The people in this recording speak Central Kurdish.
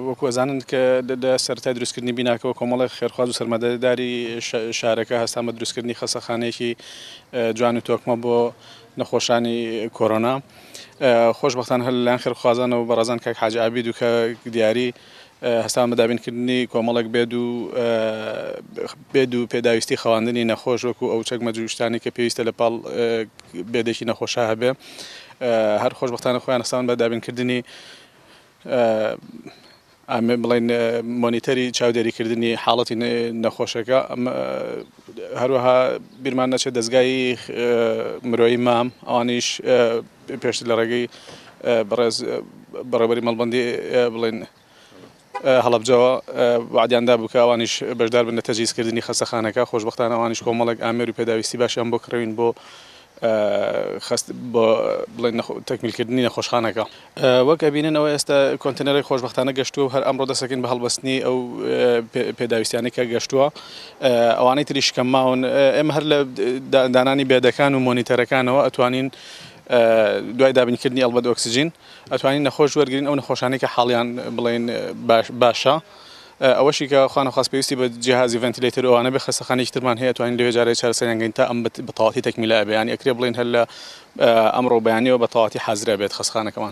وەکو ئەزانن کە لە سەرەتای دروستکردنی بیناکەوە کۆمەڵێک خێرخواز و سەرمادەداری شارەکە هەستان بە دروستکردنی خەسەخانەیەکی جوان و تۆکمە بۆ نەخۆشانی کۆرۆنا خۆشببختان هەر لەلاەن خێرخوازانەوە بەڕزان کاک حاج عبید و کە دیاری هەستان بە دابینکردنی کۆمەڵێک بێد و بێد و پێداویستی خەواندنی نەخۆش وەکو ئەو چەکمە جوشتانی کە پێویستە لە پاڵ بێدێکی نەخۆشا هەبێ هەر خۆشببختانە خۆیان هەستان بە دابینکردنی ئامێ بڵین مۆنیتەری چاودێریکردنی حاڵەتی نەخۆشەکە هەروەها بیرمان نەچێت دەستگای مرۆی مام ئەوانیش پێشتر لە ڕێگەی بەڕێز بەڕێوەبەری مەڵبەندی بڵێن هەڵەبجەوە وعدیان دابوو کە ئەوانیش بەشدار بن لە تەجیزکردنی خەسەخانەکە خۆشببختان ئەوانیش کۆمەڵێک ئامێر و پێداویستی باشیان بۆ کڕین بۆ خست بۆ بڵێن تەکمیلکردنی نەخۆشخانەکە وەک ئەبینن ئەوە ئێستا کۆنتنەرەی خۆشببختانە گەشتووە و هەر ئەمڕۆ دەسەکەین بە هەڵبستنی ئەو پێداویستیانی کە گەشتووە ئەوانەی تری شکەمماون ئێمە هەر لە دانانی بێدەکان و مۆنیتەرەکانەوە ئەتوانین دوای دابینکردنی ئەڵبەت ئۆکسجین ئەتوانین نەخۆش وەرگرین ئەو نەخۆشانەی کە حاڵیان بڵێن باشە ئەوەشی کە خوانەخواست پێویستی بە جیهازی ڤنتیلەیتەر و ئەوانە بێ خەستەخانەیەکی ترمان هەیە توانین لەوێ جارێ چارەسەریان گەین تا ئەم بە تەواوەتی تەکمیلە ئەبێ یانی ئەکرێ بڵێین هەر لە ئەمڕۆ بەیانیەوە بە تەواوەتی حازرە بێت خەستەخانەکەمان.